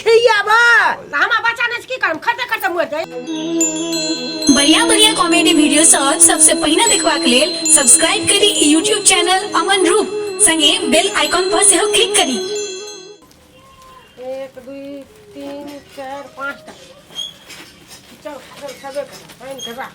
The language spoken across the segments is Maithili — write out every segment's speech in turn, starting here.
खियाबा तऽ हमरा बच्चा नहि छै की करब खरते खरते मरि जाय बढ़िया बढ़िया कॉमेडी वीडियो सब सबसे पहिने देखबाक लेल सब्सक्राइब करी ई यूट्यूब चैनल अमन रूप संगे बेल आइकॉन पर सेहो क्लिक करी एक दुई तीन चारि पाँचटा चल चल छबे कर पानि के राख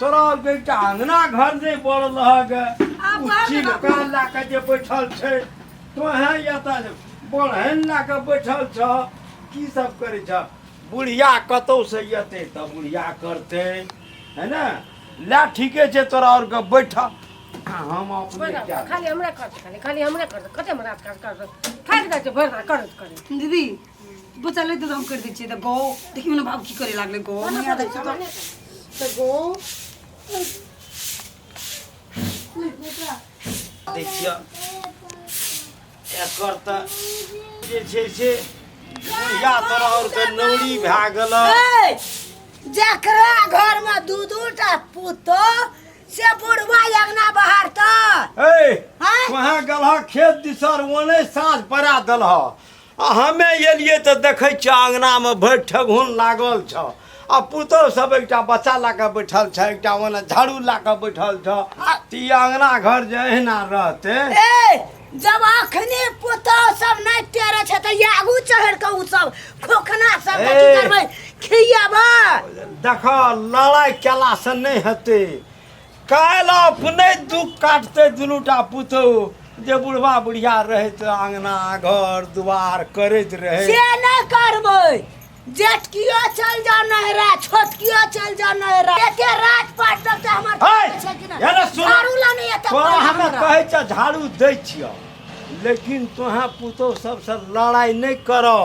तोरा बेटा अंगना घर नहि बढ़ रहक आब ओ चीज घर कान लए कऽ जे बैठल छै तोहें एतऽ बढ़ैन लए कऽ बैठल छ की सब करै छ बुढ़िया कतौ से एतै तऽ बुढ़िया करतै है ने लए ठीके छै तोरा आओर के बैठ आ हम अपने बैठा, कए खाली हमरा खर्च खाली खाली हमरा खर्च कते हमरा खर्च कर फाइल दै छै भरि करैत करैत दीदी बच्चा ले हम कर दै छियै तऽ गौ देखियौ ने बाबू की करे लागले गौ नहि आबै छै तऽ तऽ गौ दै छियै एकर तऽ जे छै से बुढ़िया तरह और के नौरी भए गेल जकरा घर में दू दू टा पुतो से बुढ़वा अंगना बाहर तऽ ए हैं? कहाँ गलह खेत दिसर ओने साँझ पड़ा दलह आ हमे एलियै तऽ देखै छियै अङ्गनामे भरि ठेघुन लागल छऽ आ पुतहु सब एकटा बच्चा लऽ कऽ बैठल छऽ एकटा ओने झाड़ू लऽ कऽ बैठल छऽ तऽ ई अङ्गना घर जे अहिना रहतै ए जब अखने पुतहु सब नहि टेरे छै तऽ ये आगू चढ़ के उ सब खोखना सब के की ए। करबै खियाबा देखऽ लड़ाइ केलासँ नहि हेतै काल्हि अपने दुख काटतै दुनूटा पुतहु जे बुढ़वा बुढ़िया रहैत अङ्गना घर दुआर करैत रहै से नहि करबै जेठकियो चल जा नहरा छोटकियो चल जा नहरा एते रात पाट तक तऽ हमर है, करै छै कि नहि? एने सुन। झाड़ू ला नहि एतऽ तोरा पड़ल हमे हमरा। कहै छ झाड़ू दै छियौ लेकिन तोहें पुतहु सबसँ लड़ाइ नहि करऽ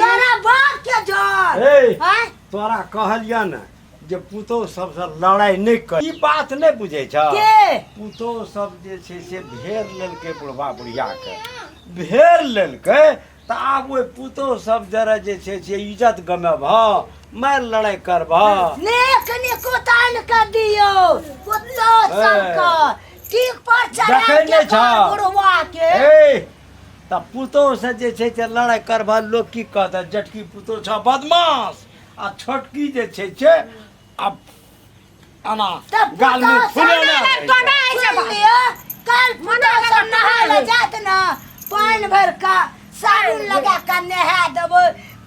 तोरा बाप के जर ए हैं? तोरा कहलिया ने जे पुतोह सबसँ लड़ाई नहि कर ई बात नहि बुझै छ के पुतोह सब जे छै से भेड़ लेलकै बुढ़बा बुढ़ियाके भेड़ लेलकै तऽ आब ओहि पुतोह सब जरा जे छै से इज्जत गमेबह मारि लड़ाइ करबह नेक निकुतान के दियो पुतो सबके ठीक पर चढ़ा जखन के नहि छह। बुढ़वा के ए तऽ पुतोहसँ जे छै से लड़ाइ करबह लोक की कहतह जटकी पुतोह छह बदमाश आ छोटकी जे छै से आब एना गालमे फुलेने रहै छै। पानि भरि कऽ साबुन लगा कऽ नहा देबै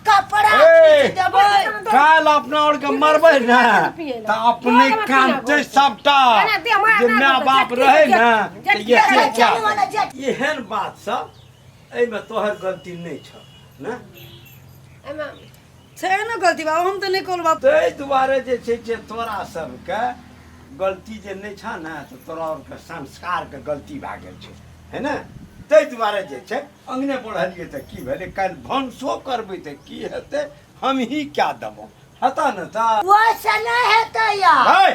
कपड़ा ए! खींच देबै काल अपना और के मरबे ना त अपने कामते सबटा जे माँ बाप रहे ना त ये से क्या चल वाला जेठ एहन बात सब एहिमे तोहर गलती नहि छ ना एहिमे छै ने गलती बाबू हम तऽ नहि कहलहुँ बाबू ताहि दुआरे जे छै जे तोरा सबके गलती जे नहि छ ने तऽ तोरा आरके संस्कारके गलती भए गेल छै है ने ताहि दुआरे जे छै अङ्गने बढ़लियै तऽ की भेलै काल्हि भनसो करबै तऽ की हेतै हमही कए देबौ हेता ने ता ओइसे नहि हेतै या है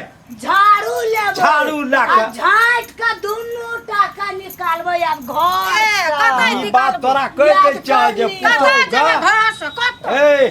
झाड़ू लेबै झाड़ू लऽ कऽ। आ झाँट के दुनू टाका निकालबै आब घर ई बात तोरा कहि दै छियौ जे पुतहु गा ए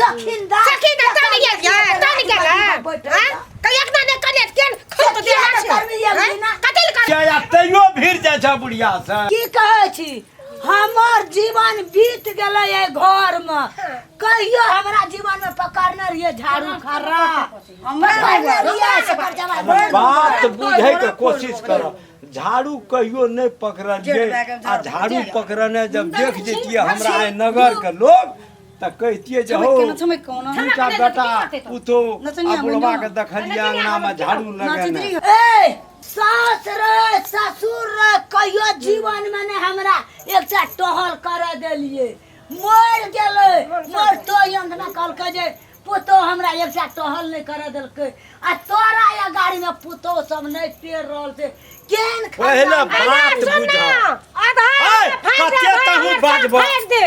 सखिन दा सखी दा ताने गेल या ताने गेल हां कहिया के ने कने केन खत दे हाथ से कतल कर क्या या तैयो भीड़ जाय छ बुढ़िया से की कहै छी हमर जीवन बीत गेलै ए घर में कहियो हमरा जीवन में पकड़ने रहिए झाड़ू खर्रा पकड़ने रहिए से पर जवाब बात बुझे के कोशिश कर झाड़ू कहियो नहीं पकड़लिए आ झाड़ू पकड़ने जब देख जतिए हमरा आइ नगर के लोग तऽ कहितियै जे छमैक हौ केना छमैक कोना दू टा छमैक बेटा केना छमैक केना पुतो नचनिया आ बुढ़वा के बुढ़वा। देखलियै अंगनामे झाड़ू लगेने ए सास रे ससुर रे कहियो जीवन में ने हमरा एक चार टहल कर देलिए मर गेले मर तो अंगना कहलकै जे पुतो हमरा एक चार टहल नहीं कर देलकै आ तोरा या गाड़ी में पुतो सब नहीं पेर रहल से केन पहिले बात बुझ आधार ए, कते तहूँ बाजबह। दे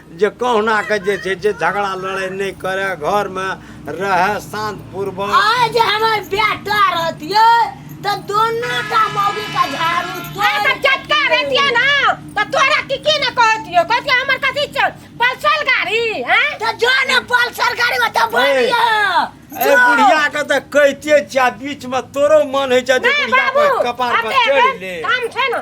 जे कहुनाके जे छै जे झगड़ा लड़ाइ नहि करे घरमे रहए शान्तपूर्वक आय जे हमर बेटा रहतिए तऽ दोनो टा मौगी का झाड़ू तोड़ तऽ चटका रहतिए ना तऽ तोरा की की ना कहतिए कहतिए हमर कथी छै पल्सर गाड़ी हैं तऽ जो ने पल्सर गाड़ी में तऽ बढ़िया ए बुढ़िया के तऽ कहिते छिया बीच में तोरो मन होइ छै जे बुढ़िया पर कपार पर चढ़ ले काम छै ना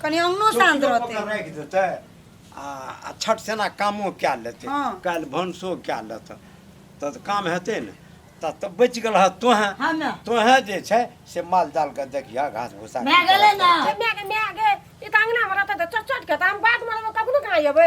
कनी अंगनो शांत चौकियो रहतै पकड़ राखि देतै आ आ छठ सेना कामो कए लेतै हँ। काल्हि भनसो कए लेतै तऽ तऽ काम हेतै ने तऽ तऽ बचि गेल हँ तोहें हाँ ना तोहें जे छै से माल जाल के देखिया घास भूसा भए गेलै ने। माय के माय गे ई तऽ अंगना मे रहतै तऽ चट चट के तऽ हम बाध मे रहबै कखनो कहाँ एबै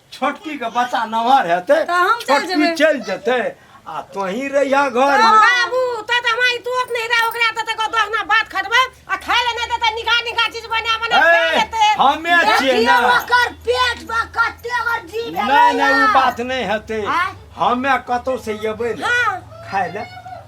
छोटकी के बच्चा नमहर हेतै तऽ हम चलि छोटकी जेबै। चलि जेतै आ तोही रहिया घर मे बाबू त त हमरा ई तोत नहीं रहा ओकरा त त दोहना बात खटबै आ खाय ले नहीं देते निगाह निगाह चीज बना बना खा ए, लेते हमे छियै देखियौ ने ओकर पेट बा कते ओकर जी भेलै नहि नहि ओ या। बात नहि हेतै आँय? हमे कतौ से एबै ने हाँ। खाय ले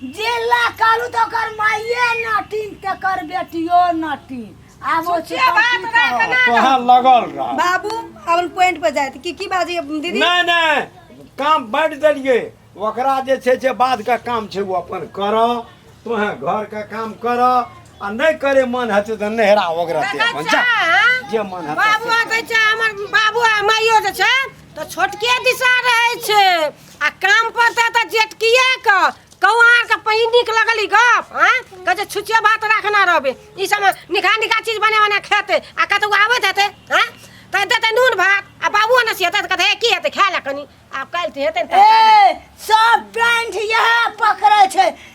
जेला कालू तो कर माइये नटिन ते कर बेटियो नटिन आब ओ सुचिया चीज बात की राख कहब? ना कहाँ लगल रह बाबू अपन पॉइंट पर जाए की की बाजी अब दीदी नहीं नहीं काम बढ़ देलिए ओकरा जे छै जे बाद के काम छै वो अपन कर तोहे घर के काम कर आ नहीं करे मन हेतै तऽ नहरा ओकरा ते अपन जा जे मन हेतै बाबू से। कहै छै हमर बाबू आ माइयो जे छै तऽ छोटके दिशा रहै छै आ काम पर से तऽ जेटकिए के कौआर के पही नीक लगल ई गप हाँ कह जे छुचिया भात राखना रहबे ई सब निखा निखा चीज बने बना खेते आ कतौ आवत हेते हाँ कह देते नून भात आ बाबू ने से हेते तऽ कहते "हे, की हेते खाय ला कनी आब काल्हि तऽ हेते ने तरकारी। ए सब पेंट यह पकड़े छै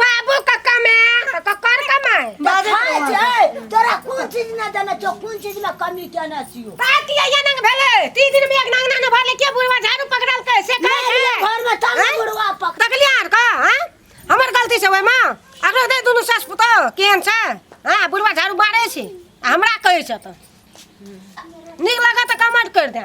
बाबू का कमे का कर कमाए बाबू हाय कमाए। छै तोरा कोन चीज ना जाना छौ कोन चीज में कमी केना छियो का किया या नंग भेले तीन दिन में एक नंग ना भरले के बुढ़वा झाड़ू पकड़ल के से का नहीं, ये घर में तब हैं? बुढ़वा पक तकलिया आर का हैं हमर गलती से ओय मां अगरो दे दुनु सास पुतो केन छै हां बुढ़वा झाड़ू बारे छै आ हमरा कहै छ त नीक लगा त कमेंट कर दे